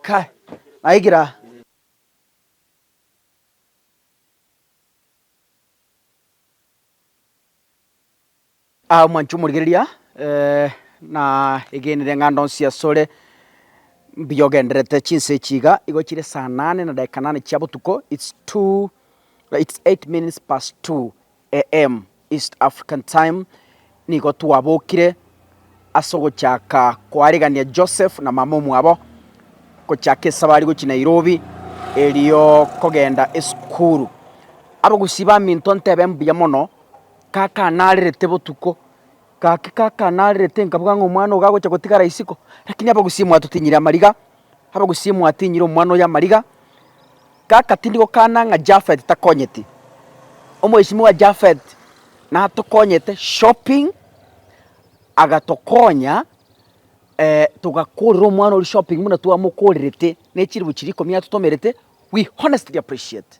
Kai, naikire aa. Ah mwancha omorigereria na egenire ng'a ndonsi asore mbuya ogendererete chinsa echi iga, igo chire saa nane na dakika nane chia botuko, its two, its eight minutes past two. AM, East African Time, Nigo twabokire as'ogochaka koaregania Joseph na mama omwabo, gochaka esabari gochia Nairobi, erio kogenda esukuru. Abagusii baminto ntebe mbuya mono, kaka narerete botuko, gaki kaka narerete nkabwaa ng'a omwana ogo agocha gotigara isiko, rakini abagusii mwatotinyire amariga. Abe gose inye mwatinyire omwana oyo amariga, gaka tindi gokana ng'a Japhet takonyeti. Omwesimiwa oye Japhet natokonyete shopping, agatokonya eh togakorera omwana oria shopping buna twamokorerete, ne chiribu chiria ikomi atotomerete, we honestly appreciate.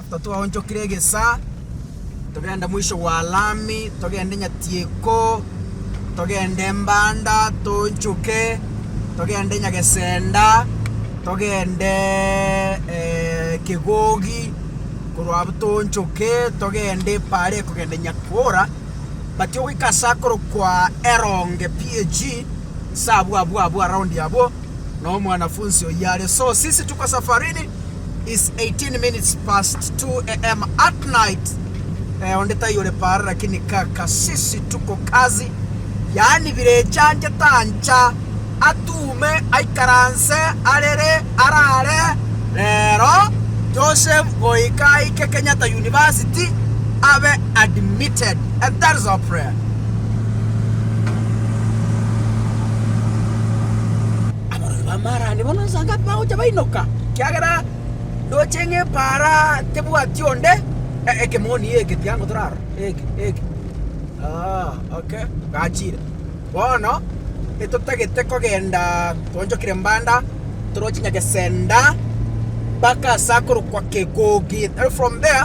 Ekero twaonchokire egesaa, togenda moiso gwa lami, togende Nyatieko, togende Mbanda, toonchoke, togende Nyagesenda, togende Kegogi, korwa abwo toonchoke togende paara ekogenda Nyakura, but ogoika ase akorokwa Eronge PAG, ase abwo abwo abwo around abwo. na omwanafunsi oyio are so sisi tuko safarini is 18 minutes past 2 AM at night eh, onde tai ore paara lakini kaka sisi tuko kazi yaani bire echange tancha atuume aikaranse arere arare rero Joseph goika aike Kenyatta University abe admitted and that is our prayer Abarwani b'amaarande bono inse anga tibagocha bainoka, ekiagera ndoche ng'a epaara tebwati onde, eh, ekemoni eke tiango torarora, eke eke aah okay, gachire. Bono etotagete kogenda twaonchokire Mbanda, toroche Nyagesenda mpaka ase akorokwa Kegogi, then from there.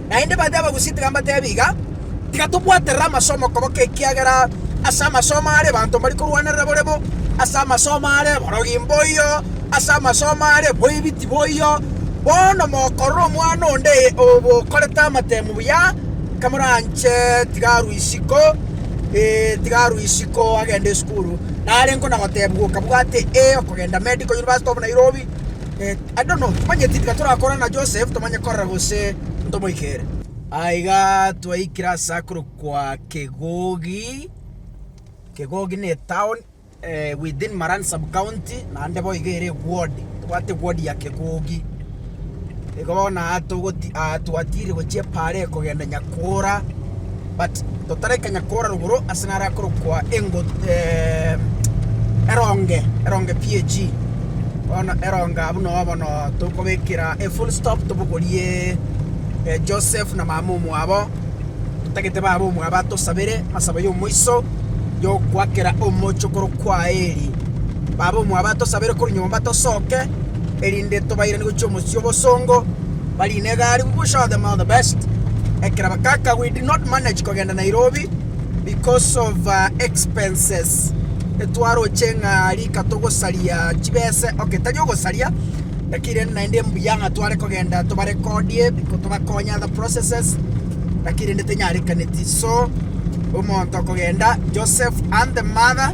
Naende baria abagusia tiga mbateebe iga, Tiga tobwaterere amasomo okoboko, ekiagera ase amasomo are abanto mbari korwanerera bore bo, ase amasomo are eborogi mboiyo, ase amasomo are boibiti boiyo. Bono mokorora omwana onde okorete amatemo buya, kamoranche tiga arue isiko, ee, tiga arue isiko agende esukuru. Nare nkona goteebwa, Okabwate ee okogenda medical university of Nairobi. Ande no, timanyeti tiga torakore na Joseph tomanye korera gose ntomoikere. Aiga twaikire ase akorokwa Kegogi, Kegogi ne etown within Maran sub-county, naende boigo ere eward, tobwate eward ya Kegogi. Igo bono aa togoti aa twatiire gochia Epara eye kogenda Nyakura. But totarekanya kora rogoro ase naro akorokwa engo eronge eronge PAG bono eronge abwo no bono tokobekera e full stop tobogorie Joseph na mama omwabo totagete baba omwabo atosabere masabo ya omoiso yokwakera omochie okorokwa Eli. Baba omwabo atosabere korwa nyomba tosoke. erinde tobairanie gochia omochie obosongo, bari in a gari, we will show them all the best, ekero bagaka we did not manage kogenda Nairobi because of expenses, etwaroche ng'a rika togosaria chibese, ok tari ogosaria, lakini rende naende mbuya ng'a tware kogenda tobarekodie biko tobakonye other processes, lakini rende tenyarekaneti, so omonto kogenda Joseph and the mother.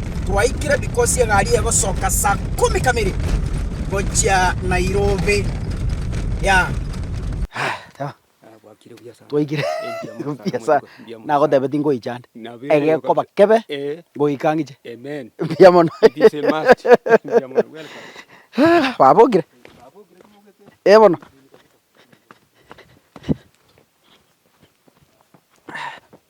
Twaikire because egari egosoka saa ikomi kamiri gochia Nairobi, yeah. Twaikire mbuya sana. Nagotebe tingoicha ande. Egekoba kebe ngoika ngiche. Mbuya mono. Babokire? Eh bono.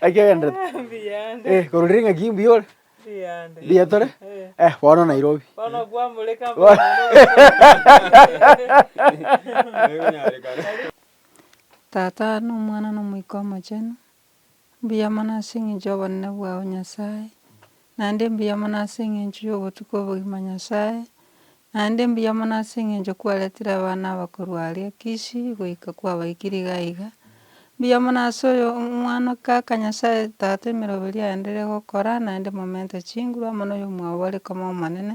Naki ogenderete? Eh, korwa riria ng'aki mbuya ore? Mbuya tore? Eh, bono Nairobi. Tata, na Omwana, na Omoika Omochenu. Mbuya mono ase engencho y'obonene bwao Nyasae, naende mbuya mono ase engencho y'obotukia obogima Nyasae, naende mbuya mono ase engencho kwaretire abana abakorwa aria Kishi goika kwabaikire iga iga. Mbuya mono ase oyo omwana kaka Nyasae tata emeroberio aenderere gokora naende momente chinguru amo noyomwabo bare koma omonene,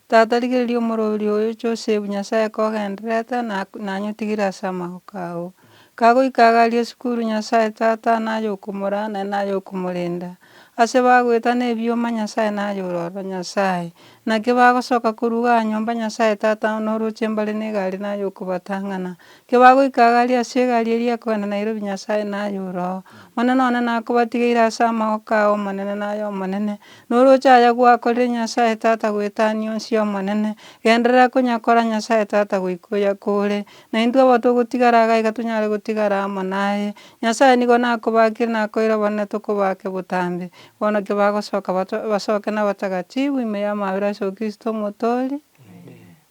Tata, rigereria omorwoti oyo Joseph, Nyasae kogenderete, na nanyotigire ase amagoka ao. Kagoika iga aria esukuru, Nyasae Tata naye okomora, naye naye okomorenda. Ase bagoetana ebioma, Nyasae naye ororo, Nyasae. Naki bagosoka korwa iga nyomba, Nyasae Tata, na oroche mbare na egari naye okobatang'ana. Kebagoika agaaria ase egari eria ekogenda Nairobi Nyasae naye oroo. Omonene one nakobatigeire ase amagoko ao Omonene naye Omonene. Noroche aya gwakorire Nyasae Tata goetania onsi y'Omonene. Genderera konyakora Nyasae Tata goika oyakore. Na intwe abo togotigara aa gaiga tonyare gotigara amo naye. Nyasae nigo nakobakire nakoeire obonene tokobake botambe. Bono kebagosoka basoke nabatagatifu ime y'amabera ase o Kristo omotoori.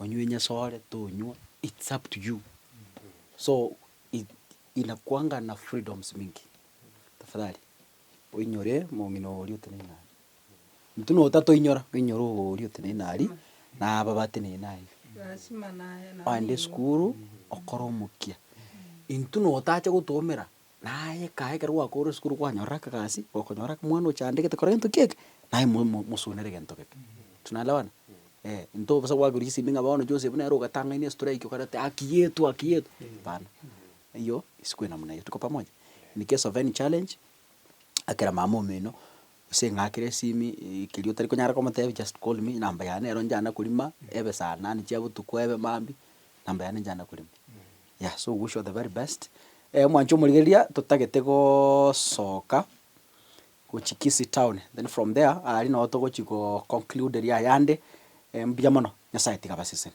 onywe nyasore tonywa it's up to you so i- inakuanga na freedoms mingi tafadhali oinyore omong'ina oria oteneine nare. Intwe notatoinyora, oinyore obo oria oteneine nari na aba bateneine naye. Oende esukuru okore omokia. Intwe notacha gotoomera Naye ekae ekero gwakoorire esukuru kwanyora akagasi, okonyora ake mwana oche aandegete kora gento kieke, naye mo mo mosuunere gento geke. Tunaelewana? Eeh, intwe bosa gwakorire chisemi ng'a bono chionsi buna ere ogatang'ania estrike okare ati haki yetu haki yetu, hapana. Eyio isiko eye namna hiyo, tuko pamoja? In case of any challenge, akera mama omino, gose eng'akere esimi ii keria otari konyara komotebia just call me, namba yane nero nchana korima, ebe saa nane chia botuko ebe maambia, namba yane nchana korima. Yeah so wish you the very best eh omwancho omorigereria totagete gosoka gochia kisii town then from there aria nabo togochia go conclude eria ayande mbuya mono nyasaye tiga abaseseni.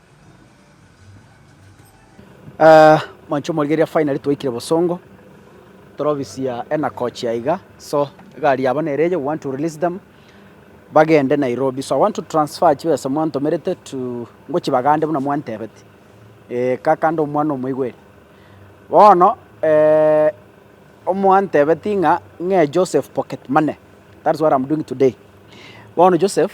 Mancho morigereria finally twaikire Bosongo, torobisia enakochi aiga, so egari yabo nere eye we want to release them bagende Nairobi, so I want to transfer chibesa mwantomerete to ngochia Bagande buna mwantebete, eh kaka nde omwana omoigweri. Bono omwantebeti ng'a ng'e Joseph pocket money, that is what am doing today, bono Joseph.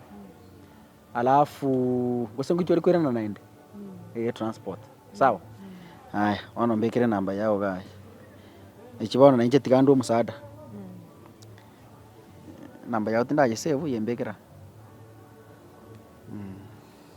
alafu gose ngoitwe ore koirana naende eh, transport sawa aya bono mbekere namba yao gaye echi bono nainche tiga ndue omosaada namba yao tindayesevu yembekera mm.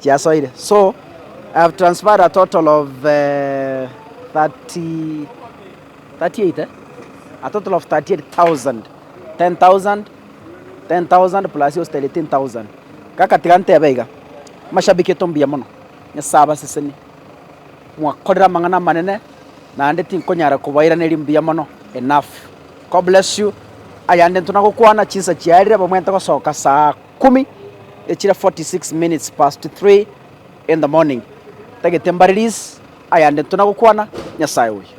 chiasoire so I have transferred a total of uh, eh, 30, 38 eh? a total of 38,000 10,000 10,000 plus yose 13,000 gakatiga ntebe iga mashabiki etombuya mono nyasaye abaseseni mwakorera amang'ana amanene naende tinkonyara kobairaneria mbuya mono enough god bless you ayande ntona gokwana chinsa chiarire bamwente gosoka saa ikomi echire 46 minutes past three in the morning, tagete mbaririz ayande tuna gokwana Nyasaye oye.